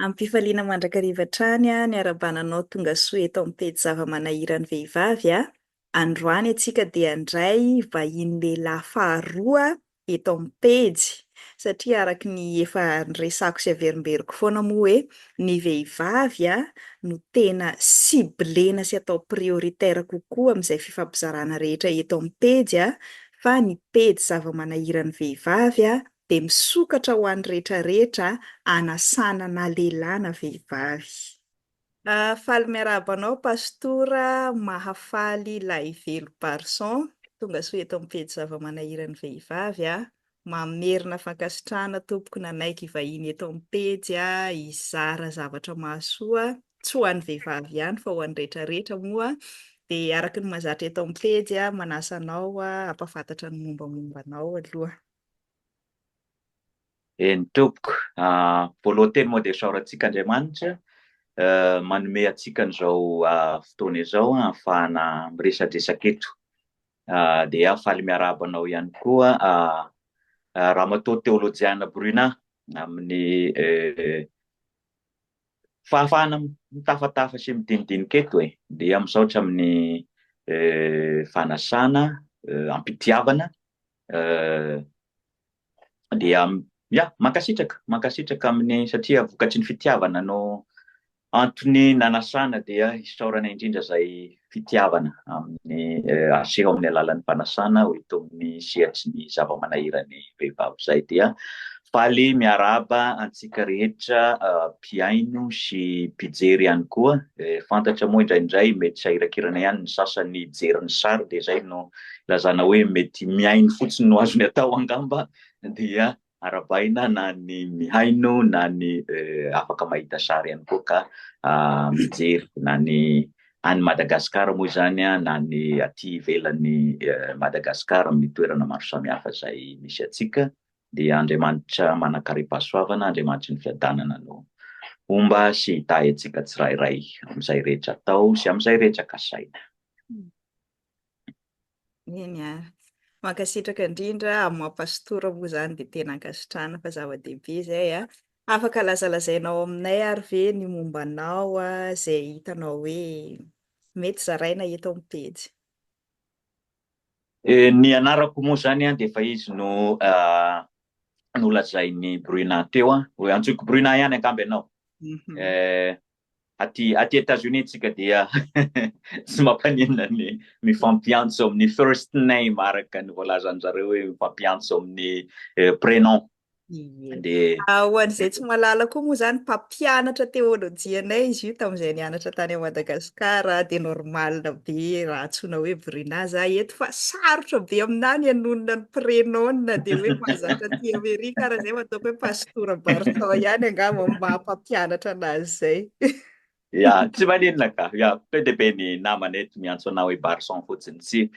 Amim-pifaliana mandrakariva hatrany ny harabana anao tonga soa eto amin'ny pejy zava-manahiran'ny vehivavy a! Androany antsika dia handray vahiny lehilahy faharoa eto amin'ny pejy satria araka ny efa niresako sy averimberiko foana moa hoe ny vehivavy no tena ciblena sy atao prioritaire kokoa amin'izay fifampizarana rehetra eto amin'ny pejy fa ny pejy zava-manahiran'ny vehivavy dia misokatra ho an'ny rehetra rehetra anasana na lehilahy na vehivavy. Ah faly miarahaba anao Pastora Mahafaly Lahivelo Barson tongasoa eto amin'ny pejy Zava-manahiran'ny vehivavy ah Mamerina fankasitrahana tompoko nanaiky hivahiny eto amin'ny pejy ah hizara zavatra mahasoa tsy ho an'ny vehivavy ihany fa ho an'ny rehetra rehetra moa dia araka ny mahazatra eto amin'ny pejy ah manasa anao ah hampafantatra ny mombamomba anao aloha Eny tompoko a, voalohan teny moa dia isaorantsika Andriamanitra manome antsika an'izao fotoana izao ahafahana miresadresaka eto. Dia faly miarahaba anao ihany koa Ramatoa Teolojiana Bruna amin'ny fahafahana mitafatafa sy midinidinika eto e. Dia misaotra amin'ny fanasana, ampitiavana dia ya mankasitraka mankasitraka amin'ny satria vokatry ny fitiavana no antony nanasana dia isaorana indrindra izay fitiavana amin'ny aseho amin'ny alalan'ny fanasana ho ito amin'ny sehatry ny zava-manahiran'ny vehivavy izay dia faly miarahaba antsika rehetra mpihaino sy mpijery ihany koa fantatra moa indraindray mety sahirakirana ihany ny sasany jery ny sary dia izay no ilazana hoe mety mihaino fotsiny no azony atao angamba dia arabaina na ny mihaino na ny afaka mahita sary ihany koa ka mijery na ny any Madagasikara moa izany na ny aty ivelan'ny Madagasikara amin'ny toerana maro samihafa izay misy antsika dia Andriamanitra manan-karem-pahasoavana Andriamanitry ny fiadanana no homba sy hitahy antsika tsirairay amin'izay rehetra atao sy amin'izay rehetra kasaina. Eny a. Mankasitraka indrindra amin'ny maha pastora moa izany dia tena ankasitrahana fa zava-dehibe izay a. Afaka lazalazainao aminay ary ve ny momba anao izay hitanao hoe mety zaraina eto amin'ny pejy? Eh, ny anarako moa izany a dia efa izy no nolazain'i Bruna teo a. Antsoiko Bruna ihany angamba ianao. Mhm. Eh, Aty aty Etazonia tsika dia tsy mampaninona ny mifampiantso amin'ny first name araka ny voalazan-dry zareo hoe mifampiantso amin'ny prénom. Ie. Dia. Ho an'izay tsy mahalala koa moa izany mpampianatra teolojianay izy io tamin'izay nianatra tany à Madagascar dia normal be raha antsoina hoe Bruna za eto fa sarotra be aminà ny hanonona ny prénom dia hoe mahazatra aty Amerika ary izay mba ataoko hoe pas. Tora Bartao ihany angamba no maha-mpampianatra anazy izay. Ya, tsy maninona ka. Ya, be dia be ny namana eto miantso anao hoe Barson fotsiny. Tsy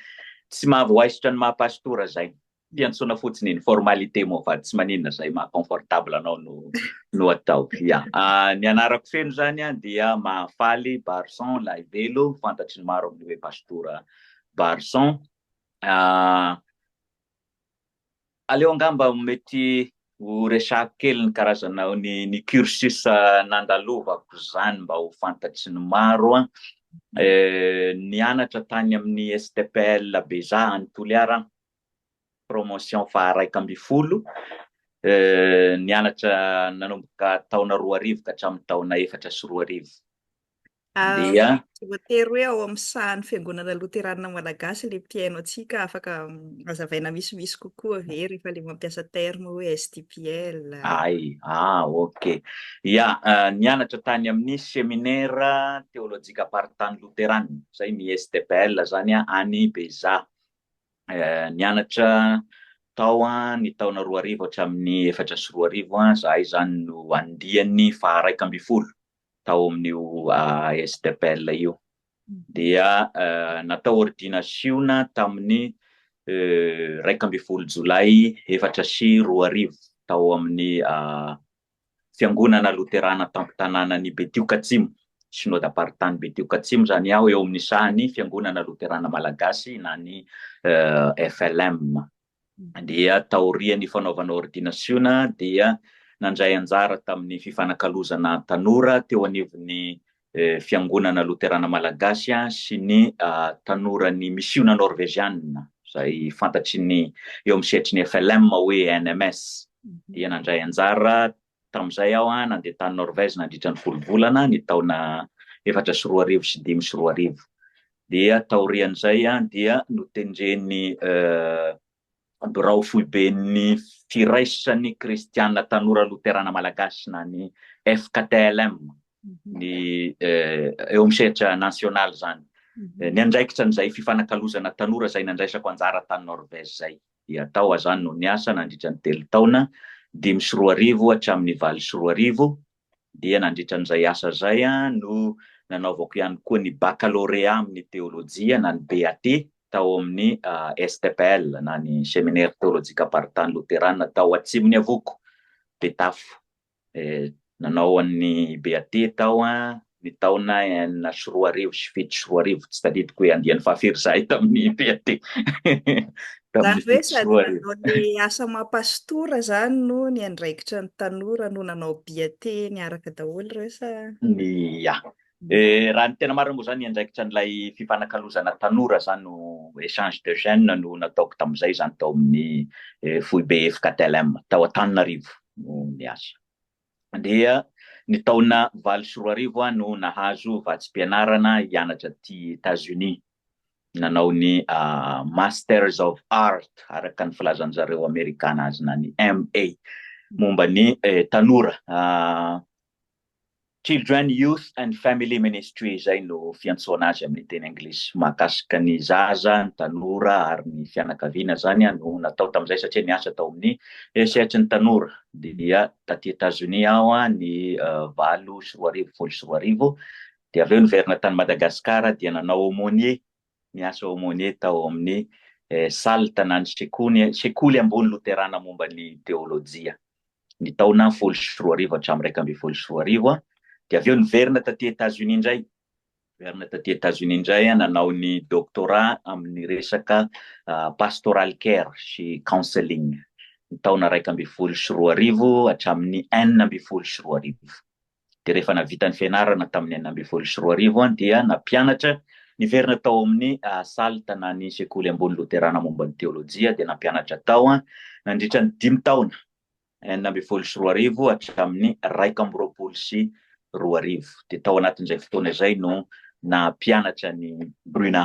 tsy mahavoaisotra ny maha-pasitora izay. Fiantsoana fotsiny iny, formalité moa fa tsy maninona izay maha-confortable anao no no atao. Ya. Ah, ny anarako feno izany an, dia Mahafaly Barson Lahivelo, fantatry ny maro amin'ny hoe Pasitora Barson. Ah, Aleo angamba mety ho resahako kely ny karazana ny ny cursus nandalovako izany mba ho fantatry ny maro an! Nianatra tany amin'ny STPL Beja any Toliara aho, promotion faharaika ambin'ny folo, nianatra nanomboka taona roa arivo ka hatramin'ny taona efatra sy roa arivo. Dia. Tsy voatery hoe ao amin'ny sahan'ny Fiangonana Loteranina Malagasy ilay mpihaino antsika, afaka hazavaina misimisy kokoa ve rehefa ilay mampiasa terme hoe STPL? Ay, ah ok. Ia, nianatra tany amin'ny Seminaire Teolojikam-paritany Loteranina, izay ny STPL izany any Beizah. Nianatra tao ny taona roa arivo hatramin'ny efatra sy roa arivo izahay izany no andiany faha-iraika ambin'ny folo. tao amin'io ASDPL io dia natao ôrdinasiona tamin'ny iraika ambin'ny folo jolay efatra sy roa arivo tao amin'ny fiangonana loterana tampon-tanànan'i Betioka Atsimo, Synodam-paritany Betioka Atsimo izany aho, eo amin'ny sahan'ny fiangonana loterana malagasy na ny FLM. dia taorian'ny fanaovana ôrdinasiona dia nandray anjara tamin'ny fifanakalozana tanora teo anivon'ny Fiangonana Loterana Malagasy sy ny Tanoran'ny Misiona Norveziana, izay fantatry ny eo amin'ny sehatry ny FLM hoe NMS, dia nandray anjara Tamin'izay aho nandeha tany Norvège nandritra ny folo volana ny taona efatra sy roa arivo sy dimy sy roa arivo. Dia taorian'izay dia notendren'ny Birao Foiben'ny Firaisan'ny Kristiana Tanora Loterana Malagasy na ny FKTLM mhm. ny eo amin'ny sehatra nasionaly izany. Mhm. Ny andraikitra an'izay fifanakalozana tanora izay nandraisako anjara tany Norvège izay. dia tao azany no niasa nandritra ny telo taona, dimy sy roa arivo hatramin'ny valo sy roa arivo, dia nandritra an'izay asa izay no nanaovako ihany koa ny bakalorea amin'ny teolojia na ny BAT tao amin'ny STPL na ny Seminaire Teolojika Aparitany Loterana tao Atsimon'iavoko, Betafo. dia nanao an'i Beate tao ny taona enina sy roa arivo sy fito sy roa arivo, tsy tadidiko hoe andiany fahafiry izahay tamin'i Beate. Izany hoe sady nanao ny asa maha pastora izany no niandraikitra ny tanora no nanao Beate niaraka daholo ireo sa? Ny, ya, Raha ny tena marina moa izany andraikitra an'ilay fifanakalozana tanora izany no echange de jeunes no nataoko tamin'izay izany tao amin'ny foibe FKTLM tao Antananarivo no niasa. Dia ny taona valo sy roa arivo aho no nahazo vatsim-pianarana hianatra aty Etats-Unis. Nanao ny Masters of Art araka ny filazan'ny zareo Amerikana azy na ny MA momba ny tanora Children, Youth and Family Ministry izay no fiantsoana azy amin'ny teny anglisy. Mahakasika ny zaza, ny tanora ary ny fianakaviana izany no natao tamin'izay satria niasa tao amin'ny Hesehatry ny tanora dia taty Etazonia aho ny valo sy roa arivo, folo sy roa arivo dia avy eo niverina tany Madagasikara dia nanao aumônier Niasa aumônier tao amin'ny SALT na ny Sekoly Ambony Loterana Momba ny Teôlôjia, ny taona folo sy roa arivo hatramin'ny iraika ambin'ny folo sy roa arivo, dia avy eo niverina taty Etazonia indray. Niverina taty Etazonia indray nanao ny doctorat amin'ny resaka Pastoral Care sy Counseling, ny taona iraika ambin'ny folo sy roa arivo hatramin'ny enina ambin'ny folo sy roa arivo. dia rehefa navita ny fianarana tamin'ny enina ambin'ny folo sy roa arivo dia nampianatra niverina tao amin'ny Salt na ny Sekoly Ambony Loterana Momba ny Teolojia dia nampianatra tao nandritra ny dimy taona, enina ambin'ny folo sy roa arivo hatramin'ny iraika amby roapolo sy roa arivo. Dia tao anatin'izay fotoana izay no nampianatra an'i Bruna.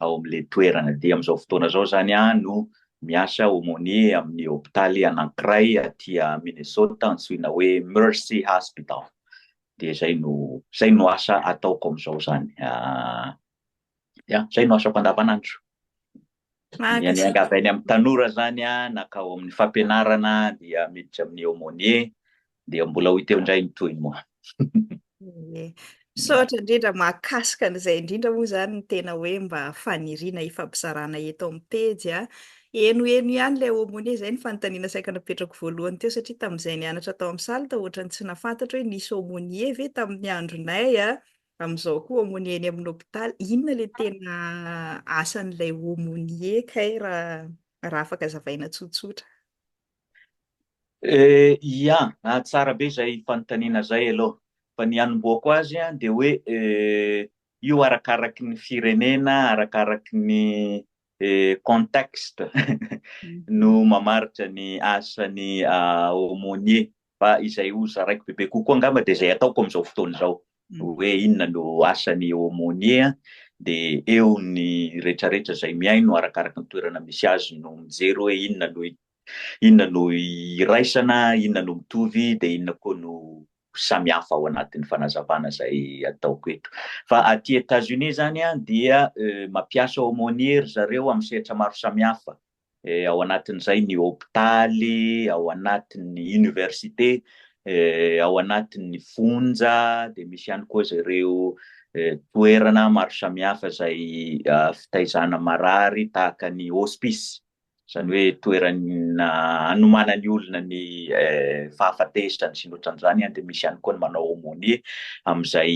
ao amin'ilay toerana. Dia amin'izao fotoana izao izany aho no miasa aumônier amin'ny hopitaly anankiray aty Minnesota antsoina hoe Mercy Hospital. Dia izay no, izay no asa ataoko amin'izao izany. Ya, izay no asako andavanandro. Miangavy any amin'ny tanora izany aho, na ka ao amin'ny fampianarana dia miditra amin'ny aumônier, Dia mbola ho teo indray ny tohiny moa. Misaotra indrindra, mahakasika an'izay indrindra moa izany ny tena hoe mba faniriana hifampizarana eto amin'ny pejy a. Henoheno ihany ilay aumônier, izay ny fanontaniana saika napetrako voalohany teo satria tamin'izay nianatra tao amin'ny salle tao ohatrany tsy nahafantatro hoe nisy aumônier ve tamin'ny andronay a, amin'izao koa aumônier eny amin'ny hôpitaly, inona ilay tena asan'ilay aumônier kay raha raha afaka zavaina tsotsotra. Ia, tsara be izay fanontaniana izay aloha. Fa ny hanombohako azy dia hoe io arakaraky ny firenena, arakaraky ny contexte no mamaritra ny asan'ny aumônier. Fa izay ho zaraiko bebe kokoa angamba dia izay ataoko amin'izao fotoana izao, hoe inona no asan'ny aumônier dia eo ny rehetrarehetra izay mihaino arakaraky ny toerana misy azy no mijery hoe inona no Inona no iraisana, inona no mitovy, dia inona koa no samy hafa ao anatin'ny fanazavana izay ataoko eto. Fa aty Etats-Unis izany dia mampiasa aumônier ry zareo amin'ny sehatra maro samihafa, ao anatin'izay ny hopitaly, ao anatin'ny université, ao anatin'ny fonja, dia misy ihany koa ireo toerana maro samihafa izay fitaizana marary tahaka ny hospice. izany hoe toerana anomanan'ny olona ny fahafatesany sy ny ohatran'izany, dia misy ihany koa ny manao aumônier amin'izay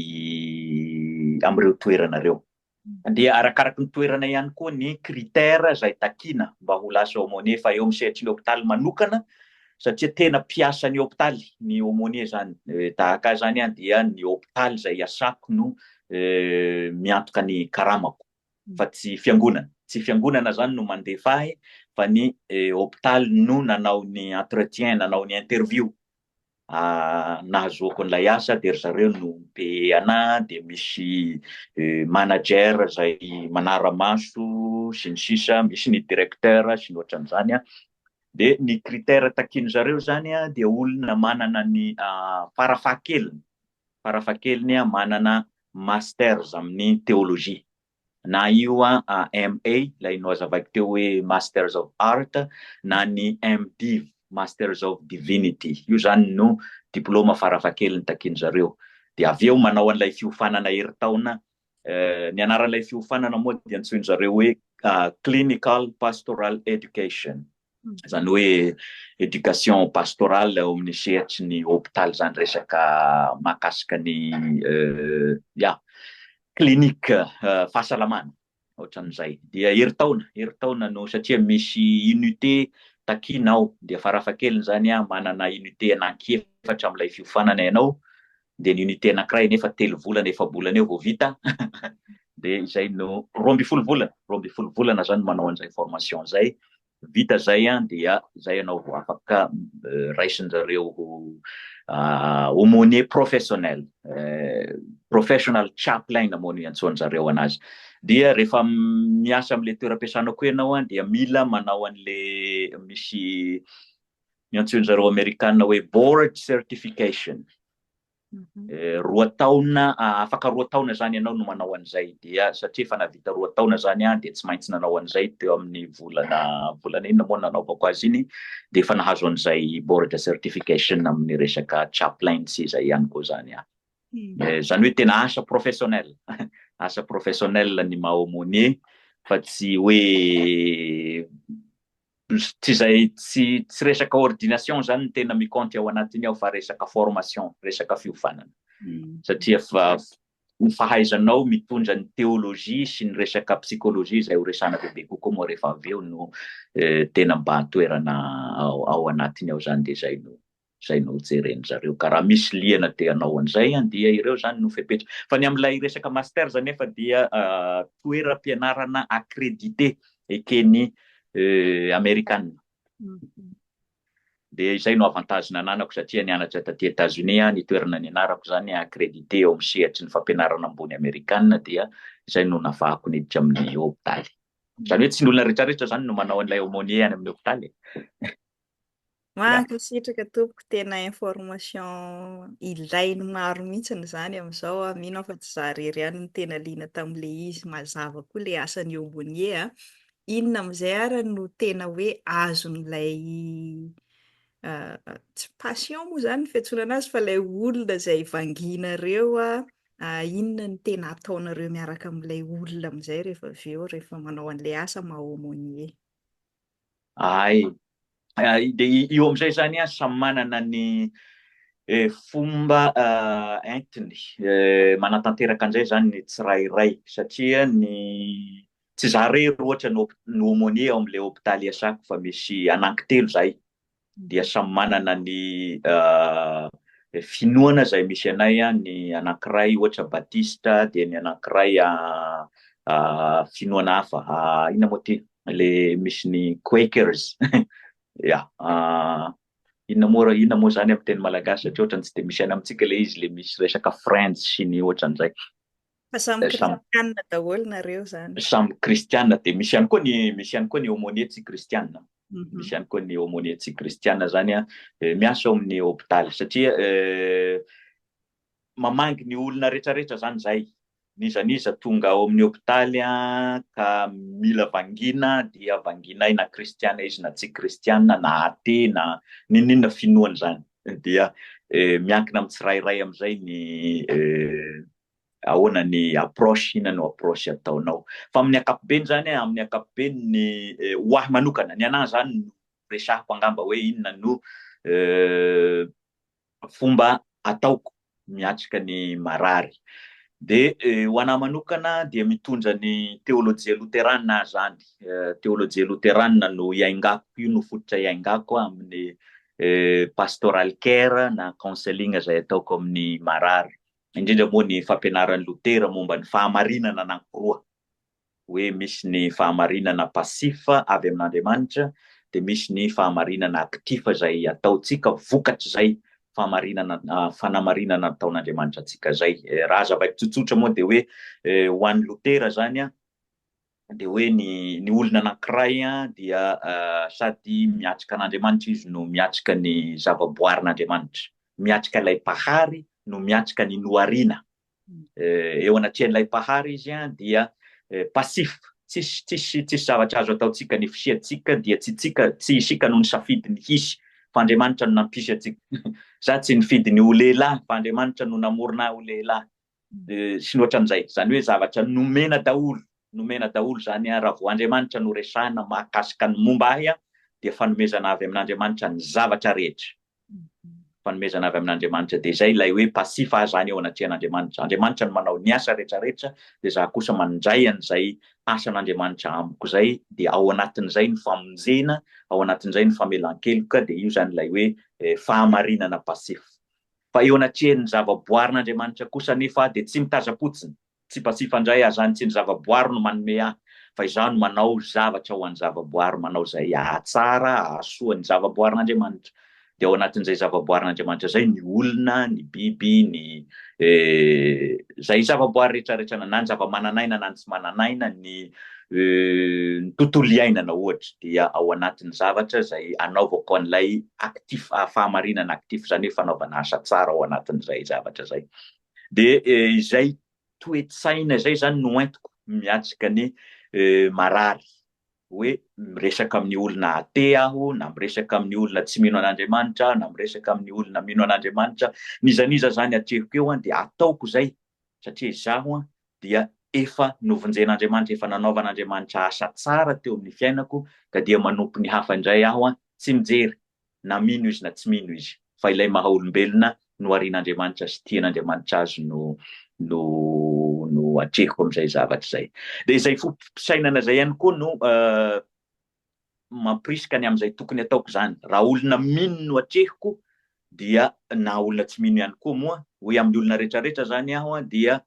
amin'ireo toerana ireo. Dia arakaraky ny toerana ihany koa ny critère izay takiana mba ho lasa aumônier, fa eo amin'ny sehatry ny hôpitaly manokana, satria tena mpiasan'ny hôpitaly ny aumônier izany, tahaka ahy izany dia ny hôpitaly izay iasako no miantoka ny karamako. fa tsy fiangonana. Tsy fiangonana zany no mandefa ahy fa ny hopitaly no nanao ny entretien, nanao ny interview nahazoako an'ilay asa dia ry zareo no mi-payer anahy dia misy manager izay manara-maso sy ny sisa, misy ny directeur sy ny ohatran'izany an. Dia ny critère takian'izareo zany dia olona manana ny fara fahakeliny Farafahakeliny manana Masters amin'ny Teolojia. Na io MA, ilay nohazavaiko teo hoe Masters of Art, na ny MDiv, Masters of Divinity. Io izany no diplaoma farafahakeliny takian'i zareo. Dia avy eo manao an'ilay fiofanana herintaona. Ny anaran'ilay fiofanana moa dia antsoin'i zareo hoe Clinical Pastoral Education. izany hoe éducation pastorale ao amin'ny sehatry ny hôpitaly izany resaka mahakasika ny ya clinique fahasalamana ohatran'izay dia herintaona herintaona no satria misy unité takiana ao dia farafahakeliny izany manana unité anankiefatra amin'ilay fiofanana ianao dia ny unité anankiray anefa telo volana efa-bolana eo vao vita dia izay no roa ambin'ny folo volana roa ambin'ny folo volana zany manao an'izay formation izay vita zay an dia zay ianao vao afaka euh, raisin zareo ho ah, aumônier professionnel euh, professional chaplain moa no iantsoan zareo anazy dia rehefa miasa amin'le toeram-piasanao koa ianao an dia mila manao an'le misy ny antsoin-dry zareo Amerikana hoe board certification. Roa taona, afaka roa taona izany ianao no manao an'izay, dia satria efa nahavita roa taona izany aho dia tsy maintsy nanao an'izay teo amin'ny volana, volana inona moa no nanaovako azy iny, dia efa nahazo an'izay board certification amin'ny resaka chaplain sy izay ihany koa izany aho. Izany hoe tena asa professionnel, asa professionnel ny maha aumônier fa tsy hoe Tsy izay tsy tsy resaka ordination izany no tena mi-compte ao anatiny ao fa resaka formation, resaka fiovanana. Satria fa ny fahaizanao mitondra ny théologie sy ny resaka psychologie izay horesahana bebe kokoa moa rehefa avy eo no tena mba toerana ao anatiny ao izany dia izay no izay nojeren'ny zareo ka raha misy liana dia anao an'izay an dia ireo izany no fepetra fa ny amin'ilay resaka masters anefa dia toeram-pianarana accrédité eken'ny amerikana dia izay no avantage nananako satria nianatra taty États-Unis aho ny toerana nianarako izany accrédité eo amin'ny sehatry ny fampianarana ambony amerikana dia izay no nafahako niditra amin'ny hôpitaly izany hoe tsy ny olona rehetrarehetra izany no manao an'ilay aumônier any amin'ny hôpitaly Mankasitraka tompoko, tena information ilain'ny maro mihitsiny izany amin'izao aho, mino aho fa tsy za irery ihany no tena liana tamin'le izy, mazava koa le asan'ny aumônier a, inona amin'izay ary no tena hoe azon'ilay tsy patient moa izany no fiantsonana azy fa ilay olona izay vanginareo a, inona no tena ataonareo miaraka amin'ilay olona amin'izay rehefa avy eo rehefa manao an'ilay asa maha aumônier? Ay, de io amizay zany a samy manana ny fomba entiny manatanteraka anizay zany ny tsirairay satria ny tsy za rery ohatra no aumonier ao amle hopitaly iasako fa misy anankitelo zahay dia samy manana ny finoana izay misy anay, ny anankiray ohatra batista, dia ny anankiray finoana hafa, inona moa ity le misy ny quakers, ya, inona moa, inona moa izany amin'ny teny malagasy satria ohatran'ny tsy dia misy any amintsika le izy le misy resaka friends sy ny ohatran'izay. Fa samy kristianina daholo nareo zany. Samy kristianina dia misy ihany koa ny misy ihany koa ny aumônier tsy kristianina. Misy ihany koa ny aumônier tsy kristianina zany a miasa ao amin'ny hôpitaly satria mamangy ny olona rehetrarehetra zany zay. N'iza n'iza tonga ao amin'ny hôpitaly a ka mila vangina dia vanginay na kristianina izy na tsy kristianina na athée na n'inon'inona finoany zany. Dia miankina amin'ny tsirairay amin'izay ny ahoana ny approche, inona no approche ataonao. Fa amin'ny ankapobeny zany, amin'ny ankapobeny ny ho ahy manokana, ny anahy zany no resahiko angamba hoe inona no fomba ataoko miatrika ny marary. Dia ho anahy manokana dia mitondra ny teolojia loterana aho zany, teolojia loterana no iaingako, io no fototra iaingako amin'ny pastoral care na counseling izay ataoko amin'ny marary. indrindra moa ny fampianaran'i Lotera momba ny fahamarinana anankiroa, hoe misy ny fahamarinana passif avy amin'Andriamanitra, dia misy ny fahamarinana actif izay ataontsika vokatr'izay fahamarinana, fanamarinana nataon'Andriamanitra antsika izay. Raha zava-tsotsotra moa dia hoe ho an'i Lotera izany, Dia hoe ny ny olona anankiray dia sady miatrika an'Andriamanitra izy no miatrika ny zavaboarin'Andriamanitra. Miatrika ilay Mpahary no miatrika ny nohariana. Eo anatrehan'ilay Mpahary izy dia passif, tsisy tsisy tsisy zavatra azo ataontsika, ny fisiantsika dia tsy tsika, tsy isika no nisafidy ny hisy fa Andriamanitra no nampisy antsika. Za tsy nifidy ny ho lehilahy fa Andriamanitra no namorona ahy ho lehilahy. sy ny ohatran'izay. Izany hoe zavatra nomena daholo, nomena daholo izany an, raha vao Andriamanitra no resahina mahakasika ny momba ahy an, dia fanomezana avy amin'Andriamanitra ny zavatra rehetra. Fanomezana avy amin'Andriamanitra. Dia izay ilay hoe passif aho izany eo anatrehan'Andriamanitra. Andriamanitra no manao ny asa rehetrarehetra, dia izaho kosa mandray an'izay asan'Andriamanitra amiko izay, dia ao anatin'izay ny famonjena, ao anatin'izay ny famelan-keloka, dia io izany ilay hoe fahamarinana passif. Fa eo anatrehan'ny zava-boarin'Andriamanitra kosa anefa dia tsy mitazam-potsiny, tsipatsipa indray azany tsy ny zava-boary no manome ahy, fa izaho no manao zavatra ho an'ny zava-boary, manao izay hahatsara, hahasoa ny zava-boarin'Andriamanitra. Dia ao anatin'izay zava-boarin'Andriamanitra izay ny olona, ny biby, ny eh, izay zava-boary rehetra rehetra, na ny zava-manan'aina na ny tsy manan'aina, ny. Ny tontolo iainana ohatra dia ao anatin'ny zavatra izay anaovako an'ilay actif, fahamarinana actif, izany hoe fanaovana asa tsara ao anatin'izay zavatra izay. Dia izay toe-tsaina izay izany no entiko miatrika ny marary. Hoe miresaka amin'ny olona athé aho, na miresaka amin'ny olona tsy mino an'Andriamanitra, na miresaka amin'ny olona mino an'Andriamanitra, n'iza n'iza izany atrehiko eo dia ataoko izay satria izaho dia efa novonjen'Andriamanitra, efa nanaovan'Andriamanitra asa tsara teo amin'ny fiainako, ka dia manompo ny hafa indray aho, tsy mijery na mino izy na tsy mino izy, fa ilay maha olombelona noharian'Andriamanitra sy tian'Andriamanitra azy no no no atrehiko amin'izay zavatra izay. Dia izay foto-pisainana izay ihany koa no mampirisika ny amin'izay tokony ataoko izany. Raha olona mino no atrehiko dia na olona tsy mino ihany koa moa, hoe amin'ny olona rehetrarehetra izany aho dia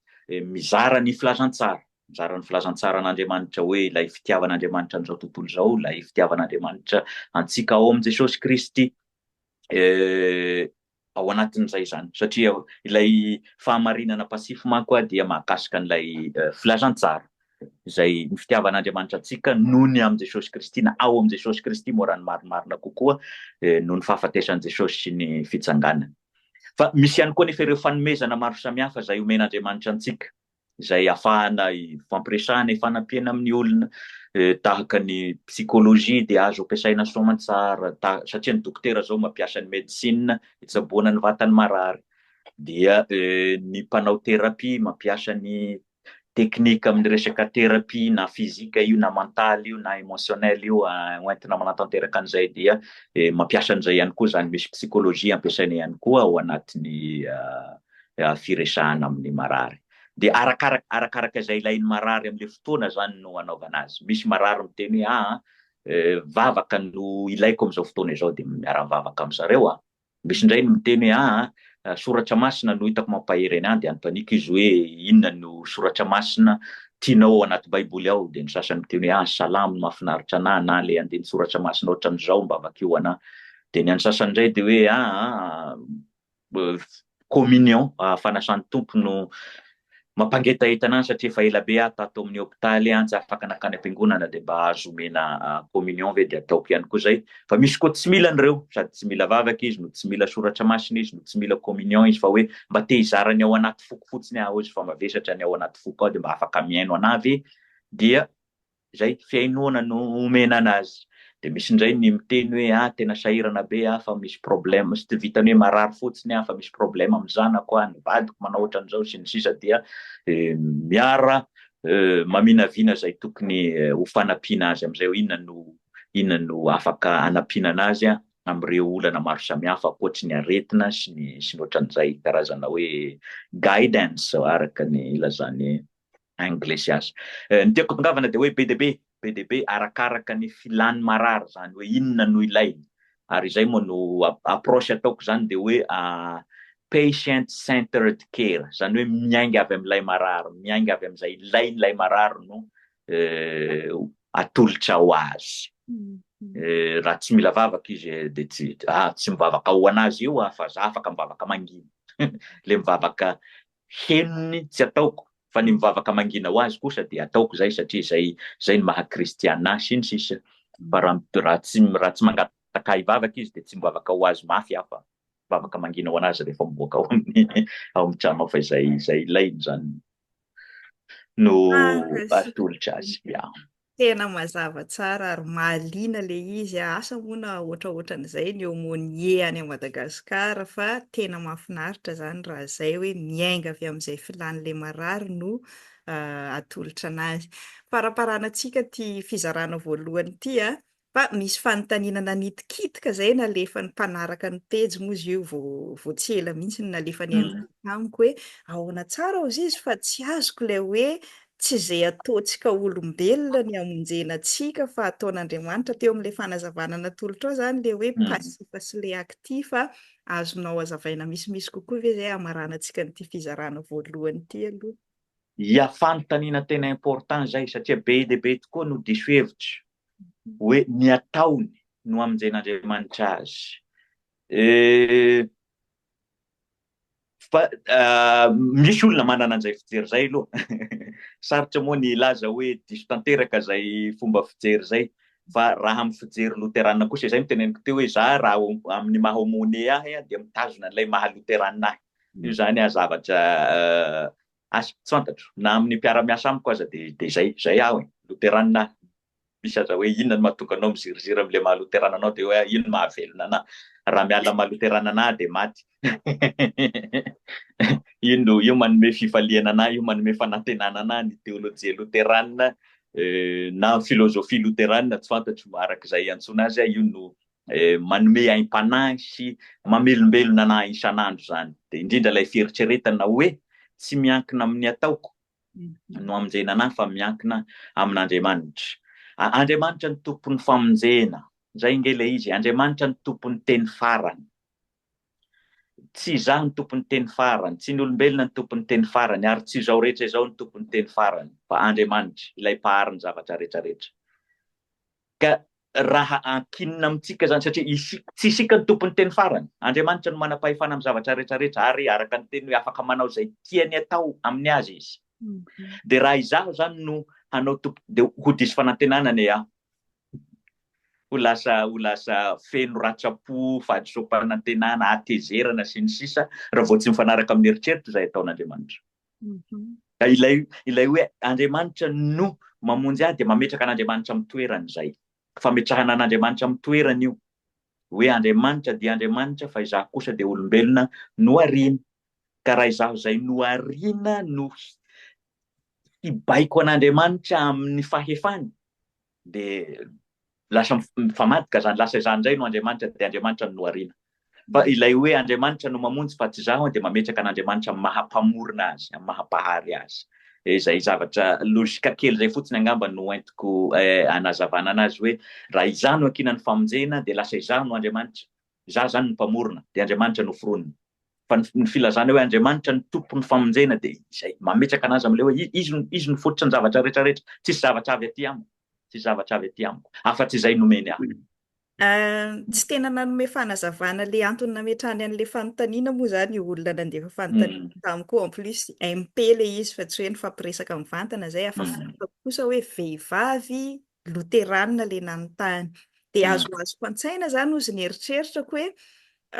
mizara ny filazantsara, mizara ny filazantsaran'Andriamanitra hoe ilay fitiavan'Andriamanitra an'izao tontolo izao, ilay fitiavan'Andriamanitra antsika ao amin'i Jesosy Kristy. ao anatin'izay izany satria ilay fahamarinana pasifo manko dia mahakasika an'ilay filazantsara izay ny fitiavan'Andriamanitra antsika noho ny amin'i Jesosy Kristy na ao amin'i Jesosy Kristy moa raha ny marimarina kokoa noho ny fahafatesan'i Jesosy sy ny fitsanganany. Fa misy ihany koa anefa ireo fanomezana maro samihafa izay omen'Andriamanitra antsika. izay hahafahana hifampiresahana, hifanampiana amin'ny olona, tahaka ny psychologie dia azo ampiasaina soamantsara satria ny dokotera izao mampiasa ny medecine hitsaboana ny vatan'ny marary, dia ny mpanao thérapie mampiasa ny teknika amin'ny resaka thérapie na physique io na mental io na emotionnel io hoentina manatanteraka an'izay dia mampiasa an'izay ihany koa izany, misy psychologie ampiasaina ihany koa ao anatin'ny firesahana amin'ny marary. Dia arakaraka arakaraka izay ilain'ny marary amin'ilay fotoana izany no anaovana azy. Misy marary miteny hoe aa vavaka no ilaiko amin'izao fotoana izao dia miara-mivavaka amin'i zareo aho. Misy indray no miteny hoe aa soratra masina no hitako mampahery an'ahy dia anontaniko izy hoe inona no soratra masina tianao ao anaty baiboly ao dia ny sasany miteny hoe aa salamo no mahafinaritra an'ahy na ilay andininy soratra masina ohatran'izao mba vakio ho an'ahy dia ny an'ny sasany indray dia hoe aa communion fanasan'ny Tompo no mampangetaheta an'ahy satria efa ela be aho tato amin'ny hopitaly an, tsy afaka nankany am-piangonana dia mba azo omena communion ve dia ataoko ihany koa zay fa misy koa tsy mila an'ireo sady tsy mila vavaka izy no tsy mila soratra masina izy no tsy mila communion izy fa hoe mba te hizara ny ao anaty foko fotsiny aho izy fa mavesatra ny ao anaty foko aho dia mba afaka mihaino an'ahy ve dia izay fihainoana no omena anazy dia misy indray ny miteny hoe ah tena sahirana be ah fa misy problème tsy vitany hoe marary fotsiny ah fa misy problème amin'ny zanako ah ny vadiko manao ohatran'izao sy ny sisa dia miara maminavina izay tokony ho fanampiana azy amin'izay hoe inona no inona no afaka anampiana anazy ah amin'ireo olana maro samihafa ankoatry ny aretina sy ny sy ny ohatran'izay karazana hoe guidance araka ny ilazan'ny Inglesias. Ny tiako tongavana dia hoe be dia be, be dia be arakaraka ny filan'ny marary izany hoe inona no ilainy. Ary izay moa no approche ataoko izany dia hoe patient centered care, izany hoe miainga avy amin'ilay marary, miainga avy amin'izay ilain'ilay marary no atolotra ho azy. Raha tsy mila vavaka izy dia tsy, ah, tsy mivavaka ho an'azy io aho fa za afaka mivavaka mangina. Ilay mivavaka henony tsy ataoko fa ny mivavaka mangina ho azy kosa dia ataoko izay satria izay izay ny maha kristiana ahy sy ny sisa fa raha raha tsy raha tsy mangataka ahy hivavaka izy dia tsy mivavaka ho azy mafy aho fa mivavaka mangina ho anazy rehefa mivoaka ao amin'ny ao amin'ny trano fa izay izay ilainy izany no atolotra azy ya Tena mazava tsara ary mahaliana le izy a! Asa moa na ohatraohatran'izay ny aumônier any à Madagascar fa tena mahafinaritra zany raha zay hoe miainga avy amin'izay filan'le marary no atolotra anazy. Faraparana antsika ty fizarana voalohany ty a! Fa misy fanontaniana nanitikitika zay nalefan'ny mpanaraka ny pejy moa izy io vao vao tsy ela mihitsy no nalefan'i Anita tamiko hoe ahoana tsara hozy izy fa tsy azoko ilay hoe tsy izay ataontsika olombelona ny hamonjena antsika fa ataon'Andriamanitra teo amin'ilay fanazavana natolotro ahy zany ilay hoe pasifa sy ilay aktifa azonao azavaina misimisy kokoa ve izay hamaranantsika an'ity fizarana voalohany ity aloha. Ia fanontaniana tena important izay satria be dia be tokoa no diso hevitra. hoe ny ataony no amonjen'Andriamanitra azy. Eh, fa uh, misy olona manana an'izay fijery izay aloha sarotra moa ny laza hoe diso tanteraka izay fomba fijery izay fa raha amin'ny fijery loterana kosa izay miteneniko teo hoe za raha amin'ny maha omone ahy dia mitazona an'ilay maha loterana ahy io zany a zavatra uh, Asa, tsy fantatro, na amin'ny mpiara-miasa amiko aza dia dia izay, izay aho e! Loterana aho, misy aza hoe inona no mahatonga anao miziriziry amin'ilay maha loterana anao dia hoe iny no mahavelona anà, raha miala maha loterana anà aho dia maty, io no, io manome fifaliana anà, io manome fanantenana anà, ny teolojia loterana, na filozofia loterana, tsy fantatro araka izay iantsoana azy, io no Manome aim-panahy sy mamelombelona anah isan'andro izany. Dia indrindra ilay fieritreretana hoe tsy miankina amin'ny ataoko no amonjena anah fa miankina amin'Andriamanitra. Andriamanitra no tompon'ny famonjena. Izay ange ilay izy e. Andriamanitra no tompon'ny teny farany. Tsy izaho no tompon'ny teny farany, tsy ny olombelona no tompon'ny teny farany, ary tsy izao rehetra izao no tompon'ny teny farany, fa Andriamanitra, ilay mpahary ny zavatra rehetra rehetra. Ka raha ankinina amintsika izany, satria isika, tsy isika no tompon'ny teny farany, Andriamanitra no manam-pahefana amin'ny zavatra rehetrarehetra, ary araka ny teniny hoe afaka manao izay tiany atao amin'ny azy izy. Dia raha izaho izany no hanao tompo, dia ho diso fanantenana anie aho, ho lasa, ho lasa feno ratsa-po, fahadisoam-panantenana, hatezerana, sy ny sisa, raha vao tsy mifanaraka amin'ny eritreritra izay ataon'Andriamanitra. Ka ilay ilay hoe Andriamanitra no mamonjy ahy dia mametraka an'Andriamanitra amin'ny toerany izay. Fametrahana an'Andriamanitra amin'ny toerany io. Hoe Andriamanitra dia Andriamanitra fa izaho kosa dia olombelona nohariana. Ka raha izaho izay nohariana no hibaiko an'Andriamanitra amin'ny fahefany, Dia lasa mifamadika izany, lasa izaho indray no Andriamanitra dia Andriamanitra no nohariana. Fa ilay hoe Andriamanitra no mamonjy fa tsy izaho dia mametraka an'Andriamanitra amin'ny maha mpamorona azy, amin'ny maha mpahary azy. Dia izay zavatra lojika kely izay fotsiny angamba no entiko hanazavana anazy hoe raha izaho no ankinan'ny famonjena dia lasa izaho no Andriamanitra, Izaho izany no Mpamorona, dia Andriamanitra no foronina. Fa ny filazana hoe Andriamanitra no Tompon'ny famonjena dia izay, mametraka an'azy amin'ilay hoe Izy, Izy no fototry ny zavatra rehetra rehetra, tsisy zavatra avy aty amiko, tsisy zavatra avy aty amiko, afa-tsy izay nomeny ahy. Tsy tena nanome fanazavana ilay antony nametrahany an'ilay fanontaniana moa izany io olona nandefa fanontaniana tamiko io, en plus MP ilay izy fa tsy hoe nifampiresaka mivantana izay, afa-tsy hitako kosa hoe vehivavy loteranina ilay nanontany. Dia azoazoko an-tsaina izany hozy ny eritreritrako hoe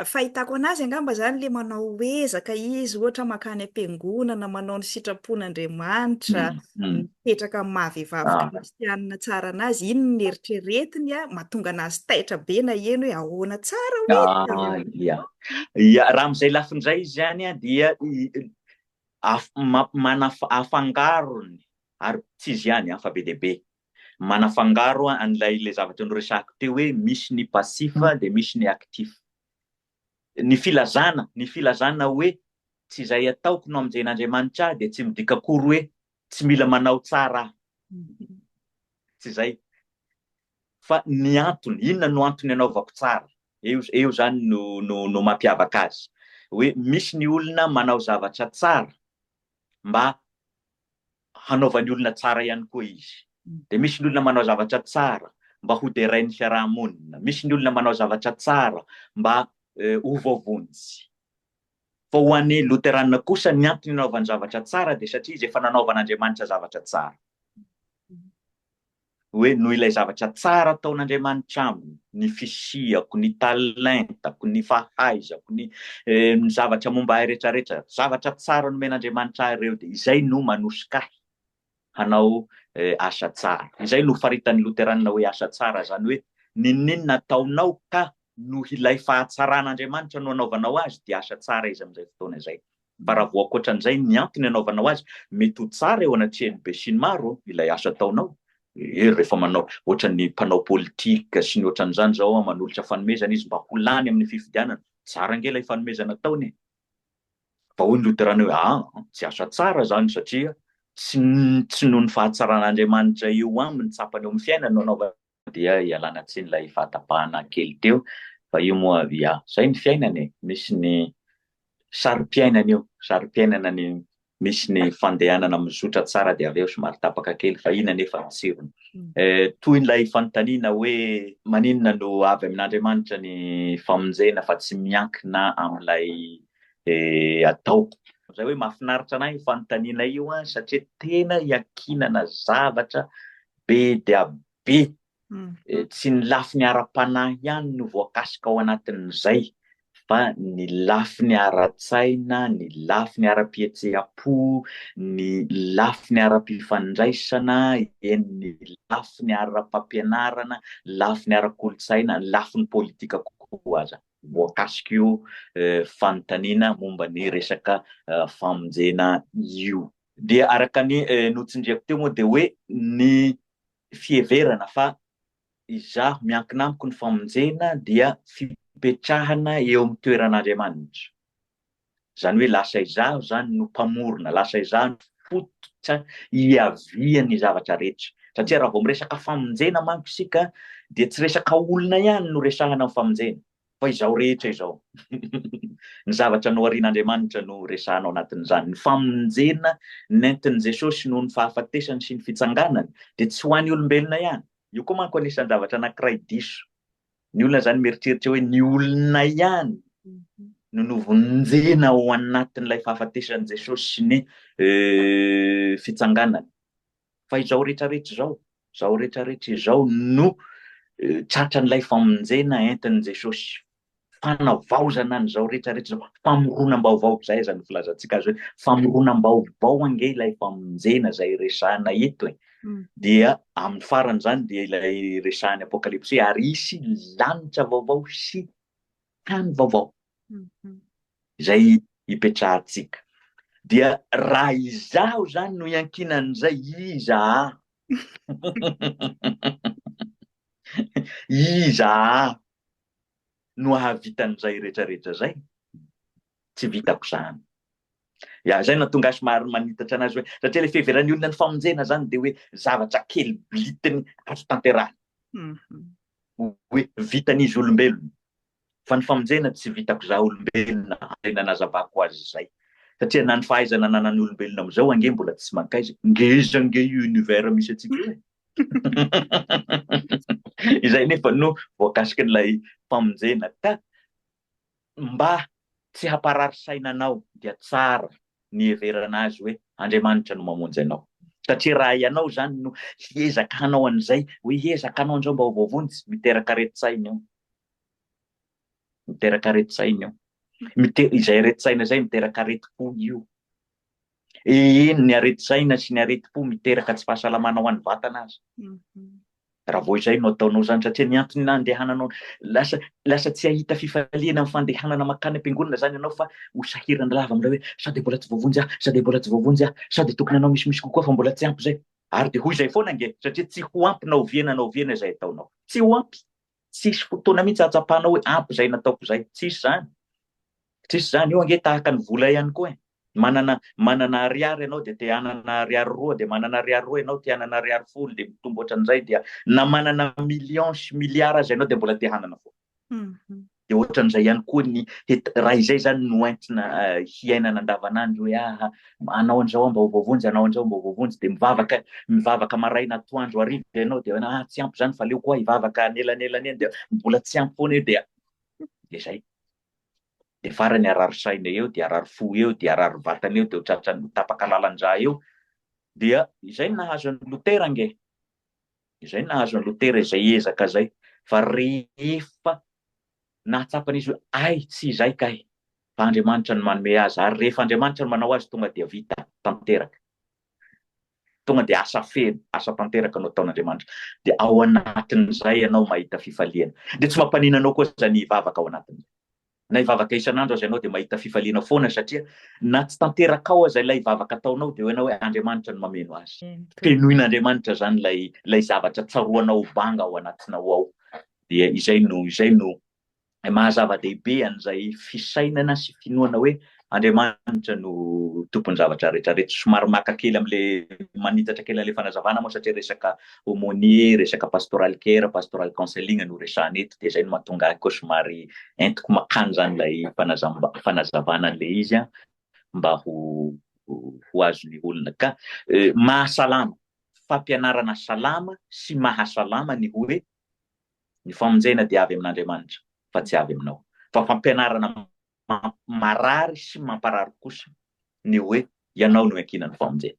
fahitako anazy angamba izany ilay manao ezaka izy, ohatra makany am-piangonana, manao ny sitrapon'Andriamanitra, mipetraka amin'ny maha vehivavy kristianina tsara anazy, iny ny eritreretiny, mahatonga anazy taitra be naheno hoe ahoana tsara hoe. Ia, ia, raha amin'izay lafiny izay izy izany dia afangaro ny Ary tsy izy ihany an, fa be dia be. Manafangaro an'ilay ilay zavatra noresahako teo hoe misy ny passif dia misy ny actif. Ny filazana, ny filazana hoe tsy izay ataoko no amonjen'Andriamanitra ahy dia tsy midika akory hoe tsy mila manao tsara aho. Tsy izay. Fa ny antony, inona no antony anaovako tsara? Eo, eo izany no, no, no mampiavaka azy. Hoe misy ny olona manao zavatra tsara, mba hanaovany olona tsara ihany koa izy. Dia misy ny olona manao zavatra tsara mba hoderain'ny fiaraha-monina, misy ny olona manao zavatra tsara mba ho voavonjy. Fa ho an'ny Loteranina kosa, ny antony anaovany zavatra tsara dia satria izy efa nanaovan'Andriamanitra zavatra tsara. hoe noho ilay zavatra tsara ataon'Andriamanitra aminy, ny fisiako, ny talentako, ny fahaizako, ny ny zavatra momba ahy rehetrarehetra, zavatra tsara nomen'Andriamanitra ahy ireo, dia izay no manosika ahy hanao asa tsara. Izay no faritan'ny loteranina hoe asa tsara, izany hoe n'inon'inona ataonao ka noho ilay fahatsaran'Andriamanitra no anaovanao azy dia asa tsara izy amin'izay fotoana izay. Bravo ankoatran'izay ny antony anaovanao azy mety ho tsara eo anatrehan'ny besinimaro ilay asa ataonao e rehefa manao ohatran'ny mpanao politika sy ny ohatran'izany zao an manolotra fanomezana izy mba ho lany amin'ny fifidianana tsara ange ilay fanomezana ataony e fa hoy ny loterana hoe aa tsy asa tsara zany satria tsy tsy noho ny fahatsaran'Andriamanitra eo aminy tsapany eo amin'ny fiainany no anaovany dia ialana tsiny ilay fahatapahana kely teo fa io moa ya zay ny fiainana e misy ny sarim-piainana io sarim-piainana ny misy ny fandehanana mizotra tsara dia avy eo somary tapaka kely fa iny anefa ny tsirony mm. eh, toy ilay fanontaniana hoe maninona no avy amin'andriamanitra ny famonjena fa tsy miankina amin'ilay eh, atao zay hoe mahafinaritra anay fanontaniana io a satria tena iakinana zavatra Be dia be. Tsy ny lafiny ara-panahy ihany no voakasika ao anatin'izay fa ny lafiny ara-tsaina, ny lafiny ara-pihetseham-po, ny lafiny ara-pifandraisana, eny ny lafiny ara-pampianarana, lafiny ara-kolontsaina, lafiny politika koa aza. Voakasika io fanontaniana momba ny resaka famonjena io. Dia araka ny notsindriako teo moa dia hoe ny fiheverana fa izaho miankina amiko ny famonjena dia fipetrahana eo amin'ny toeran'Andriamanitra. Izany hoe lasa izaho izany no mpamorona, lasa izaho no fototra hiavian'ny zavatra rehetra. Satria raha vao miresaka famonjena manko isika dia tsy resaka olona ihany no resahana amin'ny famonjena. Fa izao rehetra izao, ny zavatra noharian'Andriamanitra no resahana ao anatin'izany. Ny famonjena nentin'i Jesosy noho ny fahafatesany sy ny fitsanganany dia tsy ho an'ny olombelona ihany. Io koa manko anisan-javatra anankiray diso ny olona izany, mieritreritra hoe ny olona ihany no novonjena ao anatin'ilay fahafatesan'i Jesosy sy ny fitsanganany. fa izao rehetra rehetra izao, izao rehetra rehetra izao no tratran'ilay famonjena entin'i Jesosy, fanavaozana an'izao rehetra rehetra izao, famoronam-baovao, izay aza no filazantsika azy hoe famoronam-baovao ange ilay famonjena izay resahina eto e, dia amin'ny faran'izany dia ilay resahan'ny Apokalypsy hoe ary hisy lanitra vaovao sy tany vaovao izay hipetrahantsika. Dia raha izaho izany no iankinan'izay, iza aho? Iza aho no hahavita an'izay rehetrarehetra izay? Tsy vitako izany. Ya, izay no nahatonga ahy somary manitatra anazy hoe, satria ilay fiheveran'ny olona ny famonjena izany dia hoe zavatra kely bilitiny azo tanterahina. Mhm. Hoe vitan'izy olombelona. Fa ny famonjena tsy vitako izaho olombelona, izay nanazavako azy izay. Satria na ny fahaizana ananan'ny olombelona amin'izao ange mbola tsy mankaiza. Ngeza ange io univers misy antsika io e. Izay nefa no voakasikin'ilay famonjena ka mba tsy hamparary saina anao dia tsara ny hiheverana azy hoe Andriamanitra no mamonjy anao. Satria raha ianao izany no hiezaka hanao an'izay, hoe hiezaka hanao an'izao mba ho voavonjy, miteraka aretin-tsaina io. Miteraka aretin-tsaina io. Izay aretin-tsaina izay miteraka aretim-po io. Eny, ny aretin-tsaina sy ny aretim-po miteraka tsy fahasalamana ho an'ny vatana aza. Raha vao izay no ataonao izany, satria ny antony nandehananao, lasa, lasa tsy hahita fifaliana amin'ny fandehanana mankany am-piangonana izany ianao fa ho sahirana lava amin'ilay hoe, sao dia mbola tsy voavonjy aho, sao dia mbola tsy voavonjy aho, sao dia tokony hanao misimisy kokoa fa mbola tsy ampy izay. Ary dia ho izay foana ange, satria tsy ho ampy na oviana na oviana izay ataonao. Tsy ho ampy. Tsisy fotoana mihitsy ahatsapana hoe ampy izay nataoko izay. Tsisy izany. Tsisy izany. Io ange tahaka ny vola ihany koa e. Manana manana ariary ianao dia te hanana ariary roa, dia manana ariary roa ianao te hanana ariary folo, dia mitombo ohatran'izay, dia na manana millions sy milliards aza ianao dia mbola te hanana foana. Dia ohatran'izay ihany koa ny raha izay izany no entina hiainana andavanandro hoe aah, Anao an'izao aho mba ho voavonjy, anao an'izao mba ho voavonjy, dia mivavaka, mivavaka maraina, atoandro, hariva ianao, dia hoe ah tsy ampy izany fa aleoko hoa hivavaka anelanelana eny, dia mbola tsy ampy foana eo, dia dia izay. Dia farany harary saina eo, dia harary fo eo, dia harary vatana eo, dia ho tratran'ny ho tapaka lalan-drà eo. Dia izay no nahazo an'i Lotera ange. Izay no nahazo an'i Lotera izay ezaka izay. Fa rehefa nahatsapan'izy hoe ay tsy izay kay, Fa Andriamanitra no manome azy, ary rehefa Andriamanitra no manao azy, tonga dia vita tanteraka. Tonga dia asa feno, asa tanteraka no ataon'Andriamanitra. Dia ao anatin'izay ianao mahita fifaliana. Dia tsy mampanina anao koa izany hivavaka ao anatin'izay. Na hivavaka isan'andro aza ianao dia mahita fifaliana foana satria na tsy tanterakao aza ilay vavaka ataonao dia hainao hoe Andriamanitra no mameno azy. Fenoin'Andriamanitra izany ilay ilay zavatra tsaroanao ho banga ao anatinao ao. Dia izay no izay no Ilay maha zava-dehibe an'izay fisainana sy finoana hoe Andriamanitra no tompon'ny zavatra rehetra rehetra. Somary maka kely amin'ilay manitatra kely an'ilay fanazavana moa satria resaka aumônier, resaka pastoral care, pastoral counseling no resahana eto dia izay no mahatonga ahy koa somary entiko makany izany ilay fanazavana an'ilay izy mba ho ho azon'ny olona. Ka mahasalama, fampianarana salama sy mahasalama ny hoe Ny famonjena dia avy amin'Andriamanitra fa tsy avy aminao. Fa fampianarana marary sy mamparary kosa ny hoe ianao no iankinan'ny famonjena.